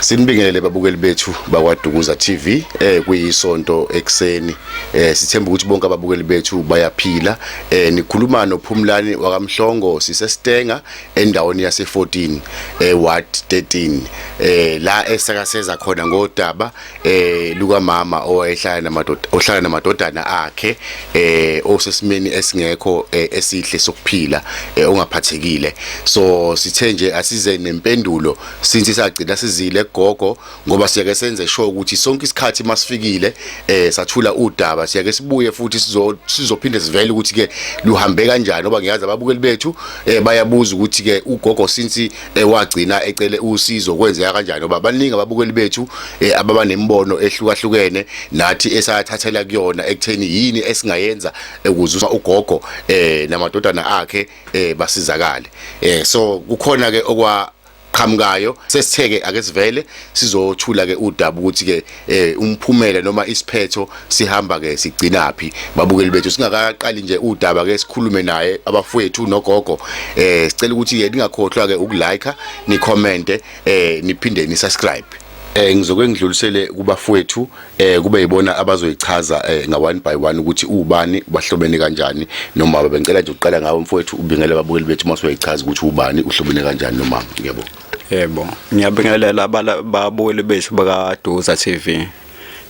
Sinibingelele babukeli bethu bakwaDukuza TV eh kuyisonto ekseni eh sithemba ukuthi bonke ababukeli bethu bayaphila eh nikhuluma noPhumlani wakamhlongo siseStenga endaweni yase 14 eh ward 13 eh la esakaseza khona ngodaba eh luka mama owayehlala namadoda ohlala namadodana akhe eh osesimeni esingekho eh, esihle sokuphila eh, ongaphathekile so sithe nje asize nempendulo since sagcina sizile gogo ngoba siyake senze sure ukuthi sonke isikhathi masifikile eh sathula udaba siyake sibuye futhi sizo sizophinde sivele ukuthi ke luhambe kanjani ngoba ngiyazi ababukeli bethu eh bayabuza ukuthi ke ugogo since eh, wagcina ecele usizo kwenzeka kanjani ngoba baningi ababukeli bethu eh, ababa nemibono ehlukahlukene nathi esathathela kuyona ekutheni yini esingayenza ukuze eh, ugogo eh namadodana akhe eh basizakale eh so kukhona ke okwa qhamukayo sesitheke ake sivele sizothula ke udaba ukuthi ke eh, umphumela noma isiphetho sihamba ke sigcina phi babukeli bethu singakaqali nje udaba ke sikhulume naye abafowethu nogogo eh sicela ukuthi ke ningakhohlwa ke ukulike ni comment eh niphinde ni subscribe eh ngizoke ngidlulisele kubafowethu eh kube yibona abazoyichaza eh nga one by one ukuthi ubani bahlobene kanjani nomama bengicela nje uqala ngawe mfowethu ubingele ababukeli bethu uma soyichaza ukuthi ubani uhlobene kanjani nomama ngiyabo yebo ngiyabingelela ababukeli bethu bakaduza TV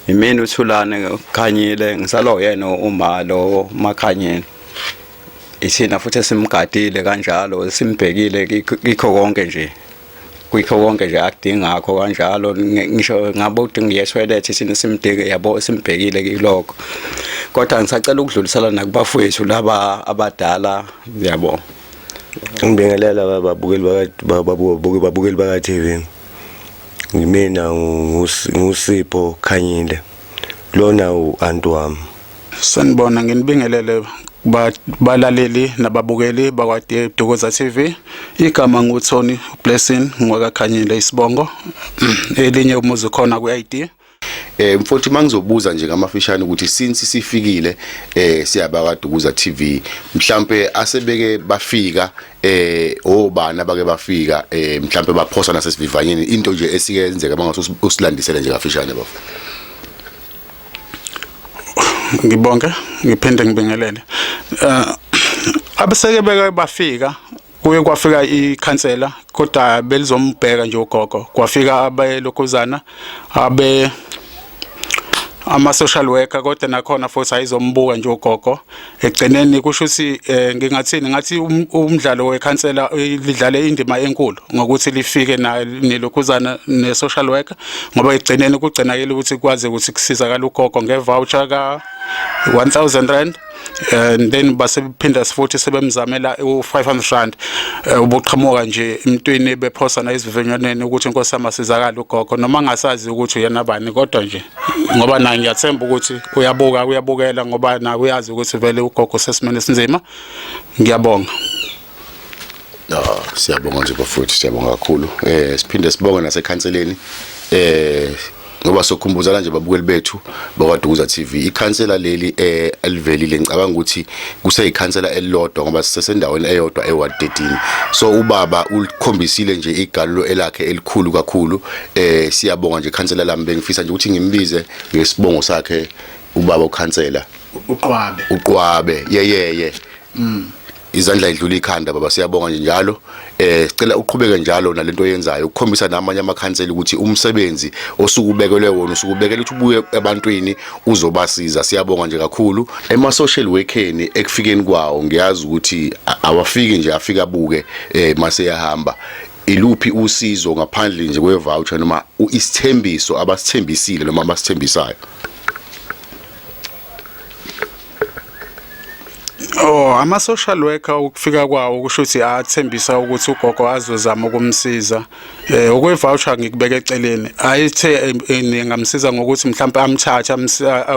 imini uthulane khanyile ngisala uyena uma lo makhanyile isina futhi simgadile kanjalo simbhekile kikho konke nje kuyikho konke nje akudingakho kanjalo ngisho ngabe udinga yeswelethe sini simdinge yabo simbhekile kiloko kodwa ngisacela ukudlulisela nakubafowethu laba abadala yabo ngibingelela babukeli bakababuke babukeli baka TV ngimina ngusipho khanyile lona u anti wami Sanibona nginibingelele balaleli nababukeli bakwaDe Dukuza TV igama nguThoni Blessing ngwakakhanyile isibongo mm, elinye umuzi khona ku-ID Eh mfowethu mangizobuza nje ngamafishane ukuthi since sifikile eh siyaba kaDukuza TV mhlambe asebeke bafika eh obani abake bafika eh mhlambe baphosa nasesivivanyeni into nje esike yenzeka bangathi usilandisele nje kafishane bafo ngibonge ngiphinde ngibingelele eh, abeseke beke bafika kuye kwafika ikhansela kodwa belizombheka nje ugogo kwafika abelokhuzana abe ama social worker kodwa nakhona futhi ayizombuka nje ugogo ekugcineni kusho ukuthi eh, ngingathini ngathi um, umdlalo wekhansela eh, lidlale indima enkulu ngokuthi lifike nelokhuzana ne-social worker ngoba ekugcineni kugcinakele ukuthi kwazi ukuthi kusizakala ugogo ngevoucher ka-1000 rand and then basephinda sifuthi sebemzamela u500 rand eh, ubuqhamuka nje emntwini bephosana izivinywaneni ukuthi inkosi amasizakala ugogo noma ngasazi ukuthi yena bani kodwa nje ngoba naye ngiyathemba ukuthi uyabuka uyabukela ngoba naye uyazi ukuthi vele ugogo sesimene esinzima ngiyabonga No, siyabonga nje bafowethu siyabonga kakhulu. Eh siphinde sibonge nasekhanseleni. Eh ngoba sokhumbuzana nje babukeli bethu bakwaDukuza TV ikhansela leli eh elivelile ngicabanga ukuthi kuseyikhansela elilodwa ngoba sisesendaweni eyodwa eWard 13 so ubaba ulikhombisile nje igalulo elakhe elikhulu kakhulu eh siyabonga nje khansela lami bengifisa nje ukuthi ngimbize ngesibongo sakhe ubaba ukhansela uqwabe uqwabe yeyeye mm izandla idlula ikhanda baba siyabonga nje njalo eh sicela uqhubeke njalo nalento oyenzayo ukukhombisa namanye amakhansela ukuthi umsebenzi osukubekelwe wona usukubekela ukuthi ubuye ebantwini uzobasiza siyabonga nje kakhulu ema social workeni ekufikeni kwawo ngiyazi ukuthi awafiki nje afika buke eh mase yahamba iluphi usizo ngaphandle nje kwe-voucher noma isithembiso abasithembisile noma abasithembisayo Oh ama social worker ukufika kwawo kusho ukuthi athembisa ukuthi ugogo azozama ukumsiza eh okwe voucher ngikubeka eceleni ayithe eh, eh, ningamsiza ngokuthi mhlawumbe amthathe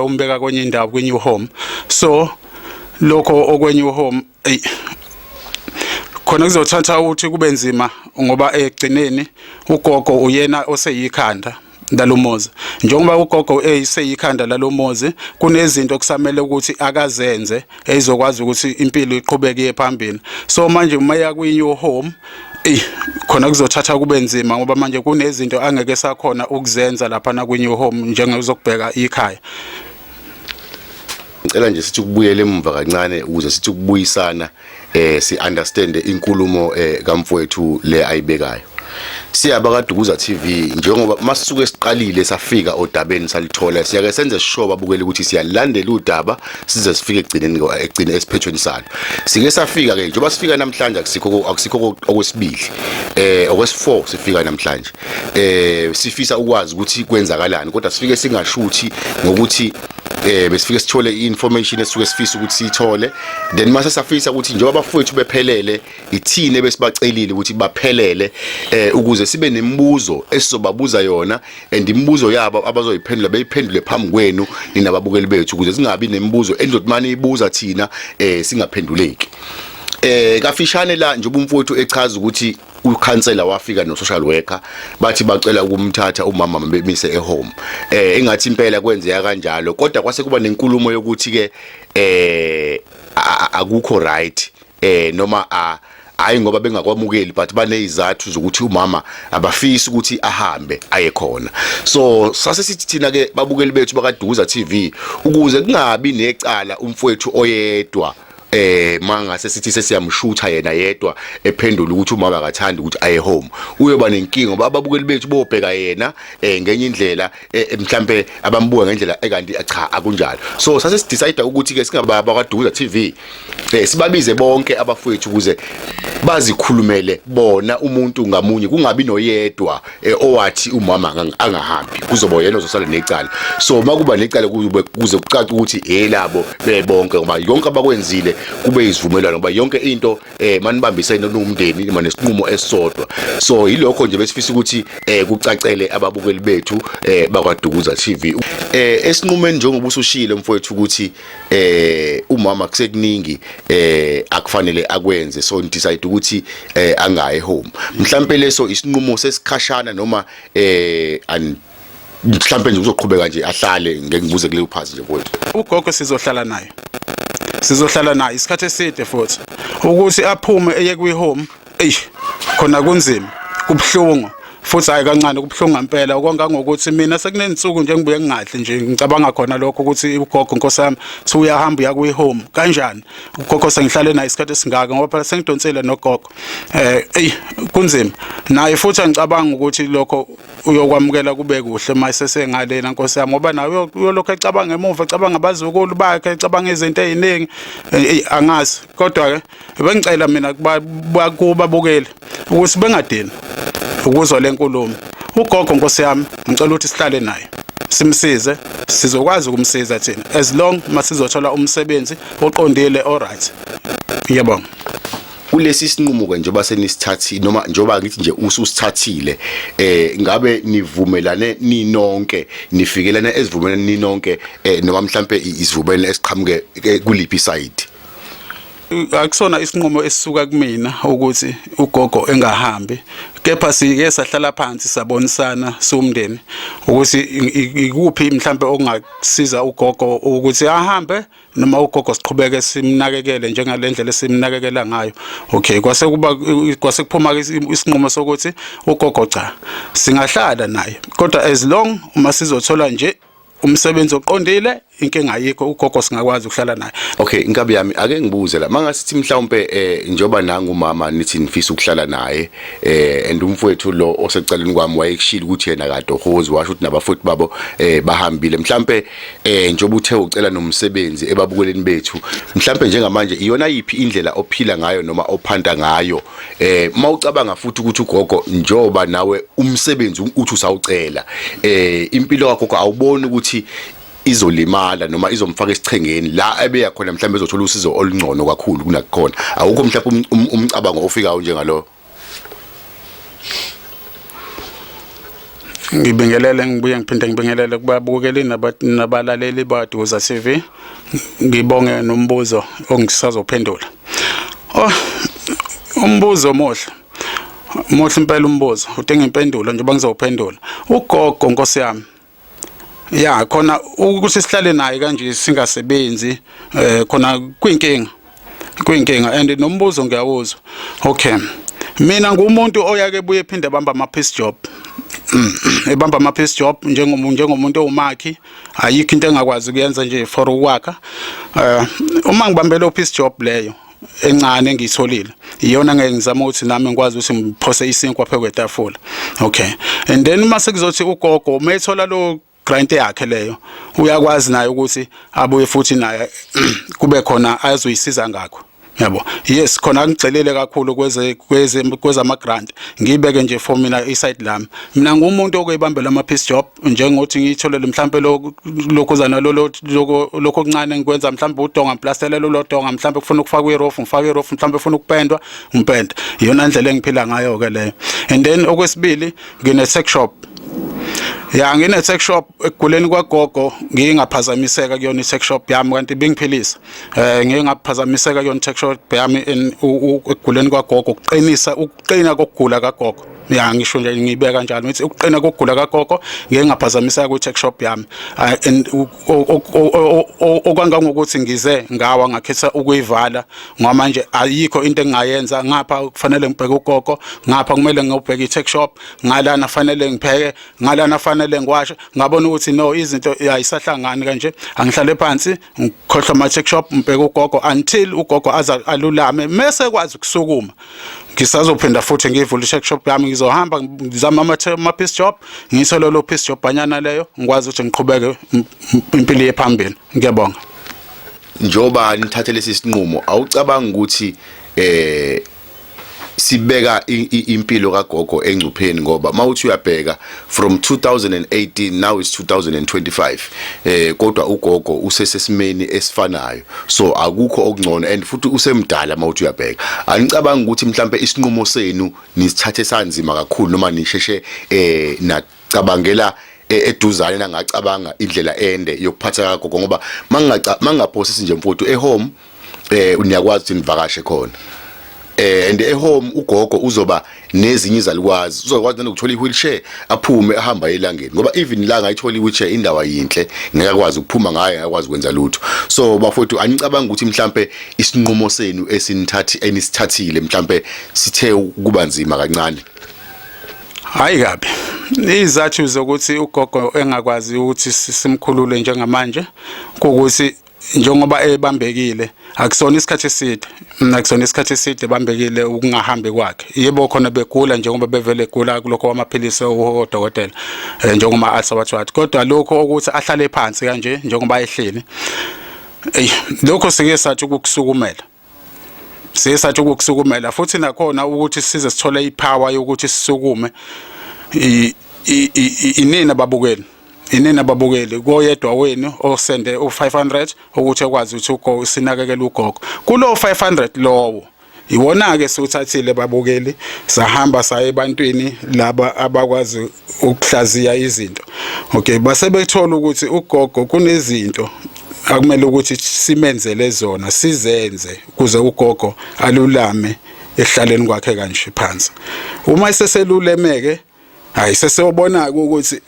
umbeka kwenye indawo kwi new home so lokho okwenye uhome eyi khona kuzothatha ukuthi kube nzima ngoba egcineni ugogo uyena oseyikhanda lalomuzi njengoba ugogo eyiseyikhanda lalomuzi kunezinto okusamele ukuthi akazenze ezokwazi ukuthi impilo iqhubeke phambili so manje uma ya kwi new home eh khona kuzothatha kube nzima ngoba manje kunezinto angeke sakhona ukuzenza lapha na kwi new home njengezokubheka ikhaya ngicela nje sithi ukubuyela emuva kancane ukuze sithi ukubuyisana eh si understand inkulumo eh kamfowethu le ayibekayo siyaba kadukuza TV njengoba masuke siqalile safika odabeni salithola siyake senze sishoba bukele ukuthi siyalandela udaba size sifike egcineni egcine esiphethweni salo sike safika ke njengoba sifika namhlanje akusikho akusikho okwesibili eh okwesi4 sifika namhlanje eh sifisa ukwazi ukuthi kwenzakalani kodwa sifike singashuthi ngokuthi eh besifike sithole information esuke sifisa ukuthi sithole then mase safisa ukuthi njengoba abafowethu bephelele ithine besibacelile ukuthi baphelele eh ukuze sibe nemibuzo esizobabuza yona and imibuzo yabo abazoyiphendula beyiphendule phambi kwenu ninababukeli bethu ukuze singabi nemibuzo endothi mani ibuza thina eh singaphenduleki eh kafishane la njengoba umfowethu echaza ukuthi ukhansela wafika no social worker bathi bacela ukumthatha umama bemise ehome eh engathi impela kwenzeka kanjalo kodwa kwase kuba nenkulumo yokuthi ke eh akukho right eh noma a hayi ngoba bengakwamukeli but banezizathu zokuthi umama abafisi ukuthi ahambe aye khona so sase sithi thina ke babukeli bethu bakaduza TV ukuze kungabi necala umfowethu oyedwa eh mangase sithi sesiyamshutha yena yedwa ephendula ukuthi uma akathandi ukuthi aye home uyoba nenkinga ngoba ababukeli bethu bobheka yena eh ngenye indlela eh, eh, mhlambe abambuka ngendlela ekanti eh, cha akunjalo so sase sidecide ukuthi ke singaba bakwaduza TV eh sibabize bonke abafowethu ukuze bazikhulumele bona umuntu ngamunye kungabi noyedwa eh, owathi umama angang- angahambi kuzoba yena ozosala necala so uma kuba necala kube- kuze kucace ukuthi elabo bebonke ngoba yonke abakwenzile kube izivumelwano ngoba yonke into eh manibambisene nowumndeni nima nesinqumo esisodwa so yilokho nje besifisa ukuthi eh kucacele ababukeli bethu eh bakwadukuza TV eh esinqumeni njengoba usushilo mfowethu ukuthi eh umama kusekuningi eh akufanele akwenze so decide ukuthi eh angaye home mhlambe leso isinqumo sesikhashana noma eh and mhlambe nje uzoqhubeka nje ahlale ngeke ngibuze kule uphazi nje mfowethu ugogo sizohlala naye sizohlala naye isikhathi eside futhi ukuthi aphume eye kwi home eish khona kunzima kubuhlungu futhi hayi kancane kubuhlungu ngempela okongangokuthi mina sekunezinsuku nje ngibuye ngingadli nje ngicabanga khona lokho ukuthi ugogo nkosi yami thi uyahamba uya kwi-home kanjani ugogo sengihlale naye isikhathi esingaka ngoba phela sengidonsile nogogo eh eyi kunzima naye futhi angicabanga ukuthi lokho uyokwamukela kube kuhle uma sesengalena nkosi yami ngoba naye uyolokhu ecabanga emuva ecabanga abazukulu bakhe ecabanga izinto eziningi angazi kodwa-ke bengicela mina kubabukeli ukuthi bengadini ukuzwa le nkulumo ugogo nkosi yami ngicela ukuthi sihlale naye simsize sizokwazi ukumsiza thina as long masizothola umsebenzi oqondile alright ngiyabonga kulesi sinqumo ke njengoba senisithathile noma njengoba ngithi nje ususithathile eh ngabe nivumelane ninonke nifikelana ezivumelane ninonke eh noma mhlambe izivumelane esiqhamuke eh, kuliphi side akusona isinqumo esisuka kumina ukuthi ugogo engahambi kepha sike sahlala phansi sabonisana siwumndeni ukuthi ikuphi mhlambe okungasiza ugogo ukuthi ahambe noma ugogo siqhubeke simnakekele njengalendlela esimnakekela ngayo okay kwase kuba kwase kuphuma isinqumo sokuthi ugogo cha singahlala naye kodwa as long uma sizothola nje umsebenzi oqondile inkinga ayikho ugogo singakwazi ukuhlala naye okay inkabi yami ake ngibuze la mangasithi mhlawumbe eh njoba nangu mama nithi nifisa ukuhlala naye eh and umfowethu lo osecaleni kwami wayekushila ukuthi yena kade ohozi washo ukuthi nabafuthi babo eh bahambile mhlawumbe eh njoba uthe ucela nomsebenzi ebabukeleni bethu mhlawumbe njengamanje iyona yipi indlela ophila ngayo noma ophanda ngayo eh mawucabanga futhi ukuthi ugogo njoba nawe umsebenzi uthi usawucela eh impilo yakho awuboni ukuthi izolimala noma izomfaka esichengeni la ebeya khona mhlawumbe ezothola usizo olungcono kakhulu kunakhona awukho mhlawumbe um, um, umcabango ofikayo njengalo ngibingelele ngibuye ngiphinde ngibingelele kubabukeli nabalaleli baduza TV ngibonge nombuzo ongisazophendula oh umbuzo omuhle muhle impela umbuzo udinga impendulo njengoba ngizowuphendula ugogo nkosi yami ya khona ukuthi sihlale naye kanje singasebenzi eh khona kwinkinga kuyinkinga and nombuzo ngiyawuzwa okay mina ngumuntu oyake buye ephinde bamba ama piece job mm, ebamba ama piece job njengomuntu njengomuntu owumakhi ayikho into engakwazi kuyenza nje for ukwakha eh, uma ngibambele piece job leyo encane engiyitholile iyona ngeke ngizama ukuthi nami ngikwazi ukuthi ngiphose isinkwa phekwetafula okay and then uma sekuzothi ugogo uma ethola lo client yakhe leyo uyakwazi naye ukuthi abuye futhi naye kube khona azoyisiza ngakho yabo yes khona ngigcelele kakhulu kweze kweze kwezama grant ngibeke nje for mina iside lami mina ngumuntu okuyibambela ama piece job njengothi ngitholele mhlambe lokho zana lolo lokho okuncane ngikwenza mhlambe udonga plastele lolo donga mhlambe kufuna ukufaka irofu ngifaka irofu mhlambe ufuna ukupendwa ngipenda iyona indlela engiphila ngayo ke leyo and then okwesibili ngine sex shop ya ngine sex shop ekuguleni kwagogo ngingaphazamiseka kuyona i sex shop yami kanti bingiphilisa eh ngingaphazamiseka kuyona sex shop yami ekuguleni kwagogo ukuqinisa ukuqina kokugula kagogo ya ngisho nje ngibeka kanjalo ngithi ukuqina kokugula kagogo ngeke ngaphazamiseka kwi tech shop yami ah, and okwangangokuthi ngize ngawa ngakhetha ukuyivala ngoba manje ayikho into engingayenza ngapha kufanele ngibheke ugogo ngapha kumele ngiyobheka i-tech shop ngalana fanele ngipheke ngalana fanele ngiwashe ngabona ukuthi no izinto ayisahlangani kanje angihlale phansi ngikhohlwa ama-tech shop ngibheke ugogo until ugogo aze alulame mese ekwazi ukusukuma ngisazophinda futhi ngiyivule i-tech shop yami ngizohamba ngizama ama-piece shop ngiyithole lo piece shop anyana leyo ngikwazi ukuthi ngiqhubeke impilo yephambili ngiyabonga njoba nithathe lesi sinqumo awucabanga ukuthi eh sibeka impilo kagogo engcupheni ngoba mawuthi uyabheka from 2018 now is 2025 eh kodwa ugogo usesesimeni esifanayo so akukho okungcono and futhi usemdala mawuthi uyabheka anicabanga ukuthi mhlambe isinqumo senu nisithathe sanzima kakhulu noma nisheshe eh cabangela e, eduzane nangacabanga indlela ende yokuphatha kagogo ngoba mangingaphosisi nje mfowethu ehome eh niyakwazi ukuthi nivakashe khona eh and ehome ugogo uzoba nezinye izalukwazi uzokwazi nokuthola iwheelchair aphume ahamba elangeni ngoba even la ngayithola iwheelchair indawo yinhle ngeke akwazi ukuphuma ngayo akwazi ukwenza lutho so bafowethu anicabanga ukuthi mhlambe isinqumo senu esinithathi enisithathile mhlambe sithe ukuba nzima kancane Hayi kabi. Izathu zokuthi ugogo engakwazi ukuthi simkhulule njengamanje ukuthi njengoba ebambekile akusona isikhathi eside mina kusona isikhathi eside bambekile ukungahambi kwakhe yebo khona begula njengoba bevele egula kulokho kwamaphilisi odokotela eh, njengoba asawathwathi kodwa lokho ukuthi ahlale phansi kanje njengoba ehleli lokho sike sathi ukukusukumela siye sathi ukukusukumela futhi nakhona ukuthi size sithole ipower yokuthi sisukume inini ababukeli inini ababukeli koyedwa wenu osende u500 ukuthi ekwazi ukuthi ugo sinakekele ugogo kulo 500 lowo iwona ke siwuthathile babukeli sahamba saye ebantwini laba abakwazi ukuhlaziya izinto okay base bethola ukuthi ugogo kunezinto akumele ukuthi simenzele zona sizenze kuze ugogo alulame ehlaleni kwakhe kanje phansi uma eseselulemeke hayi seseyobona ukuthi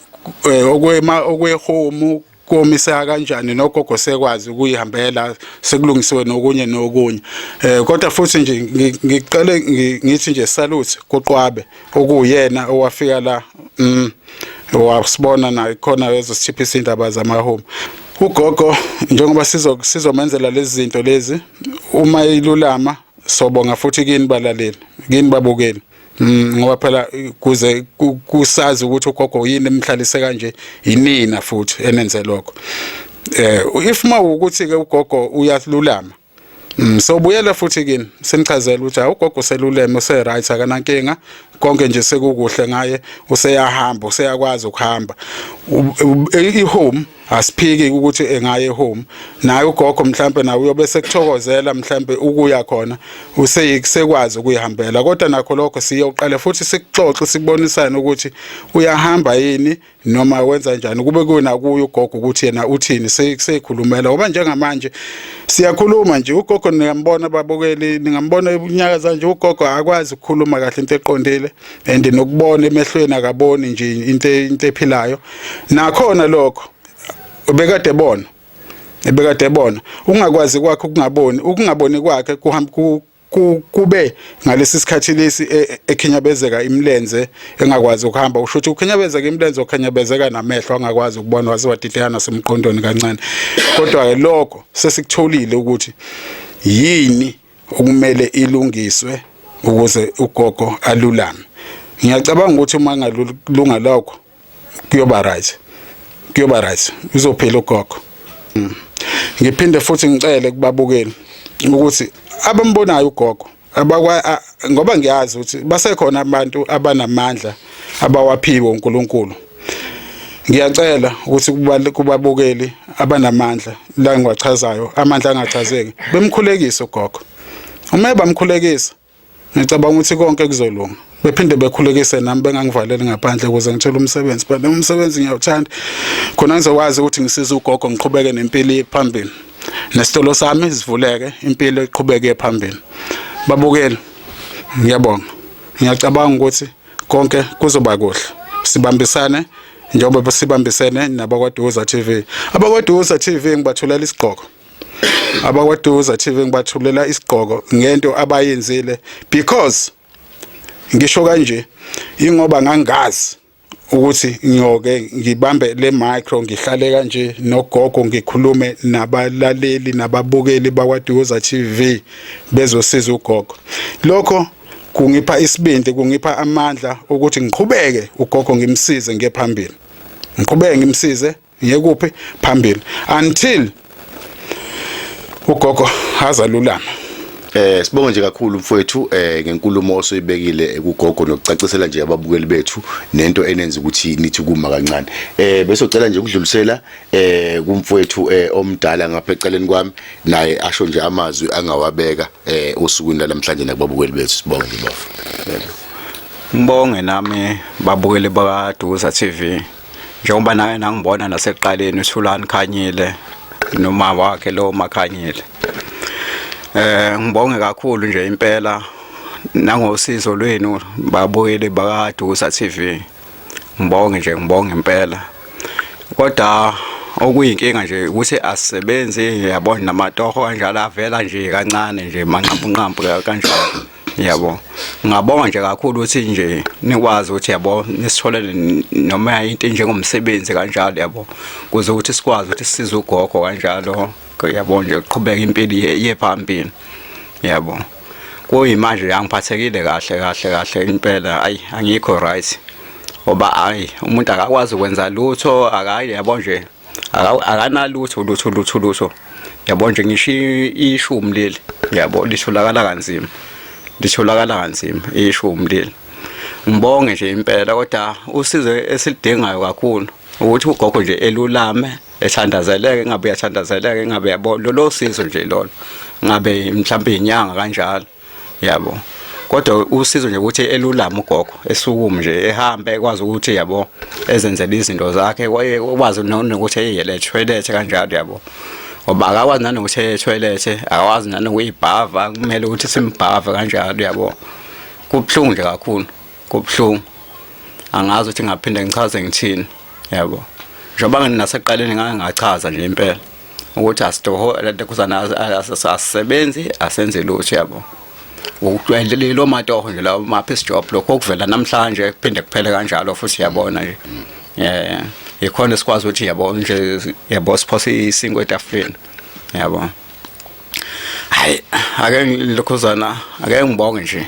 eh, okwema okwehomu komiseka kanjani nogogo sekwazi ukuyihambela sekulungisiwe nokunye nokunye eh kodwa futhi nje ngiqale ngithi nje salute kuqwabe okuyena owafika la mm wasibona naye khona ezosithiphisa indaba zama home ugogo njengoba sizo sizomenzela lezi zinto lezi uma ilulama sobonga futhi kini balaleli kini babukeli Mm, ngoba phela kuze kusazi ukuthi ugogo yini emhlalise kanje yinina futhi enenze lokho eh if ma ukuthi ke ugogo uyalulama mm, so buyela futhi kini simchazela ukuthi awugogo seluleme use right akanankinga konke nje sekukuhle ngaye useyahamba useyakwazi ukuhamba i home asiphiki ukuthi engaye home naye ugogo mhlambe nawe uyobe sekuthokozela mhlambe ukuya khona useyisekwazi ukuyihambela kodwa nakho lokho siyoqale futhi sikuxoxe sibonisane ukuthi uyahamba yini noma wenza njani kube kuna kuyo ugogo ukuthi yena uthini sekusekhulumela ngoba njengamanje siyakhuluma nje ugogo niyambona babukeli ningambona unyaka zanje ugogo akwazi ukukhuluma kahle into eqondile and nokubona emehlweni akaboni nje into into ephilayo nakhona lokho ubekade bona ebekade ebona ungakwazi kwakhe ukungaboni ukungaboni kwakhe kuhamba kube ngalesi sikhathi lesi e, ekhinyabezeka imlenze engakwazi ukuhamba usho ukuthi ukhinyabezeka imlenze okhinyabezeka namehlo angakwazi ukubona waze wadideka nasemqondweni kancane kodwa ke lokho sesikutholile ukuthi yini okumele ilungiswe ukuze ugogo alulame ngiyacabanga ukuthi uma ngalunga lokho kuyoba right kuyoba right uzophila ugogo mm. ngiphinde futhi ngicele kubabukeli ukuthi abambonayo ugogo abakwa ngoba ngiyazi ukuthi basekhona abantu abanamandla abawaphiwe uNkulunkulu ngiyacela ukuthi kubabukeli abanamandla la ngiwachazayo amandla angachazeki bemkhulekise ugogo uma bamkhulekisa ngicabanga ukuthi konke kuzolunga bephinde bekhulekise nami bengangivaleli ngaphandle ukuze ngithole umsebenzi but umsebenzi ngiyawuthanda khona ngizokwazi ukuthi ngisize ugogo ngiqhubeke nempilo phambili nesitolo sami sivuleke impilo iqhubeke phambili babukeli ngiyabonga ngiyacabanga ukuthi konke kuzoba kuhle sibambisane njengoba sibambisene nabakwaduza TV abakwaduza TV ngibathulela isigqoko abakwaduza TV ngibathulela isigqoko ngento abayenzile because ngisho kanje ingoba ngangazi ukuthi ngiyoke ngibambe le micro ngihlale kanje nogogo ngikhulume nabalaleli nababukeli bakwaDuza TV bezosiza ugogo lokho kungipha isibindi kungipha amandla ukuthi ngiqhubeke ugogo ngimsize ngiye phambili ngiqhubeke ngimsize ngiye kuphi phambili until ugogo azalulama Eh sibonge nje kakhulu mfowethu eh ngenkulumo osoyibekile ekugogo nokucacisela nje ababukeli bethu nento enenza ukuthi nithi kuma kancane. Eh bese ucela nje ukudlulisela eh kumfowethu eh omdala ngapha eceleni kwami naye asho nje amazwi angawabeka eh osukwini namhlanje nakubabukeli bethu sibonge nje bafo Ngibonge nami babukeli bakaDuza TV njengoba naye nangibona nasekuqaleni uSulani Khanyile noma wakhe lo Makhanyile eh ngibonge kakhulu nje impela nangosizo lwenu babukeli bakaDuza TV ngibonge nje ngibonge impela kodwa okuyinkinga nje ukuthi asisebenzi yabona namatoho kanjalo avela nje kancane nje manqampunqampu kanjalo yabo ngabonga nje kakhulu ukuthi nje nikwazi ukuthi yabo nisitholele noma into njengomsebenzi kanjalo yabo kuze ukuthi sikwazi ukuthi sisize ugogo kanjalo yabo nje kuqhubeka impilo ye phambili yabo kuyimanje angiphathekile kahle kahle kahle impela ayi angikho right ngoba ayi umuntu akakwazi ukwenza lutho akayi yabo nje akanalutho lutho lutho lutho yabo nje ngisho ishumi leli yabo litholakala kanzima litholakala kanzima ishumi leli ngibonge nje impela kodwa usizo esilidingayo kakhulu ukuthi ugogo nje elulame ethandazeleke ngabe yathandazeleke ngabe yabo lolo sizo nje lolo ngabe mhlawumbe inyanga kanjalo yabo kodwa usizo nje ukuthi elulama ugogo esukume nje ehambe ekwazi ukuthi yabo ezenzele izinto zakhe kwazi nokuthi eyele toilet kanjalo yabo ngoba akakwazi nanokuthi eye toilet akakwazi nanokuyibhava kumele ukuthi simbhave kanjalo yabo kubuhlungu nje kakhulu kubuhlungu angazi ukuthi ngaphinde ngichaze ngithini yabo njengoba nginasekuqaleni ngake ngachaza nje impela ukuthi asitoho ladekhuzana asisebenzi asenze lutho yabo ukujwayelelile omatoho nje lawo maphi job lokho okuvela namhlanje kuphinde kuphele kanjalo futhi yabona nje eh ikhona esikwazi ukuthi yabo nje yabo siphose isingo etafuleni yabo hayi ake ngilokhuzana ake ngibonge nje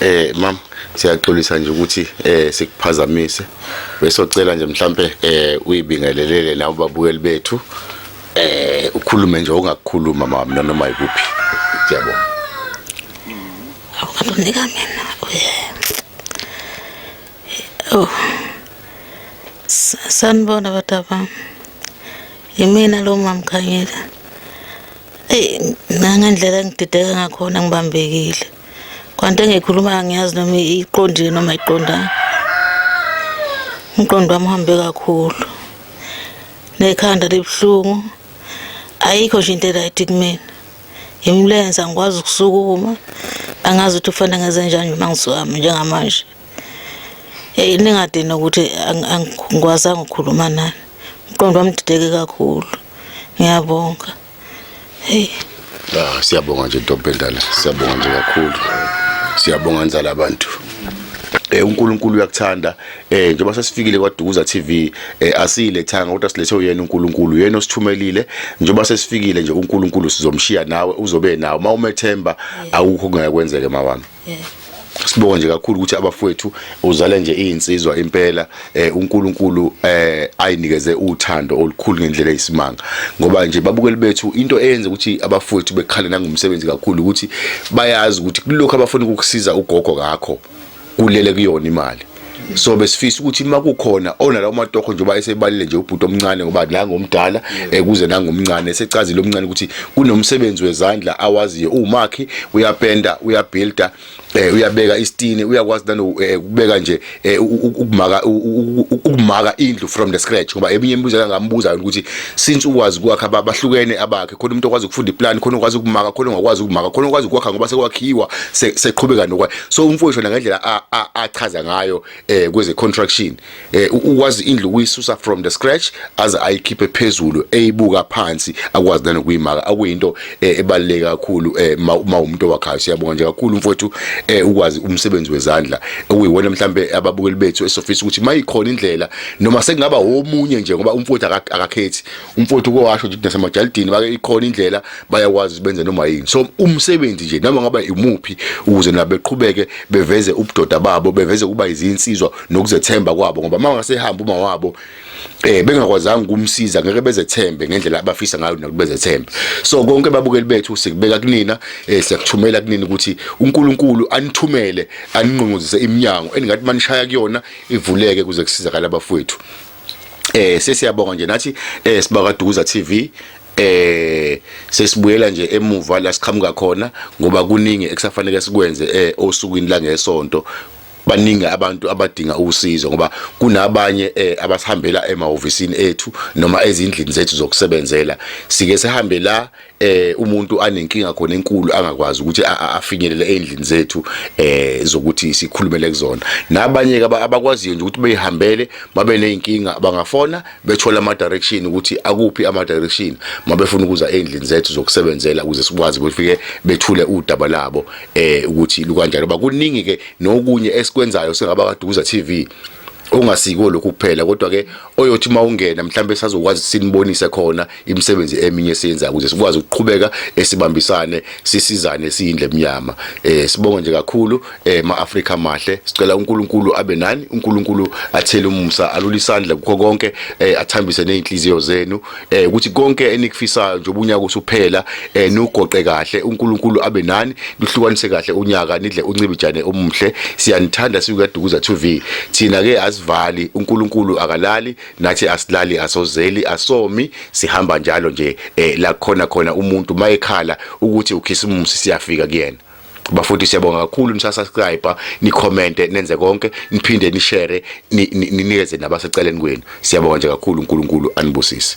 Eh mam siyaxolisa nje ukuthi eh sikuphazamise besocela nje mhlambe eh uyibingelelele nawe babukeli bethu eh ukhulume nje ongakukhuluma mama noma yikuphi siyabonga akunika mina oh sanibona batapa yimina lo mamkhanyela eyi nangendlela engidideka ngakhona ngibambekile kwanto engikhuluma angiyazi noma iqondile noma iqondanga umqondo wami uhambe kakhulu nekhanda libuhlungu ayikho nje into eright kumina imlenze angikwazi ukusukuma angazi ukuthi ufanele ngenze njani uma ngisuhamba njengamanje eyi ningadini ukuthi angikwazanga ukukhuluma nani umqondo wami dideke kakhulu ngiyabonga Hey. Ah, siyabonga nje ntombi endala. Siyabonga nje kakhulu. Siyabonga nzala abantu. eh uNkulunkulu uyakuthanda eh njengoba sesifikile kwaDukuza TV eh asiyilethanga kodwa silethe uyena uNkulunkulu yena osithumelile njengoba sesifikile nje uNkulunkulu sizomshiya nawe uzobe nawe uma umethemba awukho kungakwenzeke mawami sibonga nje kakhulu ukuthi abafowethu uzale nje izinsizwa impela eh, uNkulunkulu eh, ayinikeze uthando olukhulu ngendlela eyisimanga ngoba nje babukeli bethu into eyenza ukuthi abafowethu bekhale nangomsebenzi kakhulu ukuthi bayazi ukuthi kulokho abafuna ukukusiza ugogo ngakho kulele kuyona imali so besifisa ukuthi uma kukhona onalawo matoho nje uba esebalile nje ubhuti omncane ngoba nangomdala ekuze eh, nangomncane esecazile omncane ukuthi kunomsebenzi wezandla awaziyo umakhi uyapenda uyabuilda eh uyabeka istini uyakwazi nalo eh, ukubeka nje eh, ukumaka ukumaka indlu from the scratch ngoba eminye imibuzo kangambuza ukuthi since ukwazi kwakha abahlukene abakhe khona umuntu okwazi ukufunda iplan khona okwazi ukumaka khona ongakwazi ukumaka khona okwazi ukwakha ngoba sekwakhiwa seqhubeka nokwa so umfowethu wena ngendlela achaza ngayo eh kweze contraction eh ukwazi indlu kuyisusa from the scratch aze ayikhiphe phezulu eyibuka phansi akwazi nani kuyimaka akuyinto eh, ebaluleke kakhulu eh, uma umuntu wakhayo siyabonga nje kakhulu mfowethu eh, ukwazi umsebenzi wezandla okuyiwona mhlambe ababukeli bethu esofisa ukuthi mayikhona indlela noma sekungaba omunye nje ngoba umfowethu akakhethi umfowethu uke washo ukuthi nasemajalidini bake ikhona indlela bayakwazi benze noma yini so umsebenzi nje noma ngaba imuphi ukuze nabo beqhubeke beveze ubudoda babo beveze kuba izinsizwa nokuzethemba kwabo ngoba uma ngasehamba uma wabo eh bengakwazanga ukumsiza ngeke bezethembe ngendlela abafisa ngayo nokubezethemba so konke babukeli bethu sikubeka kunina eh siyakuthumela kunina ukuthi uNkulunkulu anithumele aninqunguzise iminyango eningathi manishaya kuyona ivuleke kuze kusizakala abafowethu eh sesiyabonga nje nathi eh sibaka Dukuza TV eh sesibuyela nje emuva la siqhamuka khona ngoba kuningi ekusafanele sikwenze eh osukwini la ngesonto baningi abantu abadinga usizo ngoba kunabanye eh, abasihambela emahhovisini ethu noma ezindlini zethu zokusebenzela sike sihambe la eh umuntu anenkinga khona enkulu angakwazi ukuthi afinyelele endlini zethu eh zokuthi sikhulumele kuzona nabanye ke abakwaziyo nje ukuthi beyihambele babe nezinkinga bangafona bethola ama direction ukuthi akuphi ama direction mabefuna ukuza endlini zethu zokusebenzela ukuze sikwazi befike bethule udaba labo eh ukuthi lukanjalo bakuningi ke nokunye esikwenzayo singaba kaduza TV ongasiko lokhu kuphela kodwa ke oyothi mawungena mhlawumbe sazokwazi sinibonise khona imisebenzi eminye esiyenza ukuze sikwazi ukuqhubeka esibambisane sisizane siyindle emnyama eh sibonga nje kakhulu eh ma Africa mahle sicela uNkulunkulu abe nani uNkulunkulu athele umusa alule isandla kukho konke eh athambise nezinhliziyo zenu eh ukuthi konke enikufisayo nje ubunyaka usuphela eh nugoqe kahle uNkulunkulu abe nani luhlukanise kahle unyaka nidle uncibijane omuhle siyanithanda sikukadukuza TV thina ke asivali uNkulunkulu akalali nathi asilali asozeli asomi sihamba njalo nje eh la khona khona umuntu mayekhala ukuthi ukhisimusi siyafika kuyena bafuthi siyabonga kakhulu nisasubscribe nicommente nenze konke niphinde nishare ninikeze nabaseceleni kwenu siyabonga nje kakhulu uNkulunkulu anibusise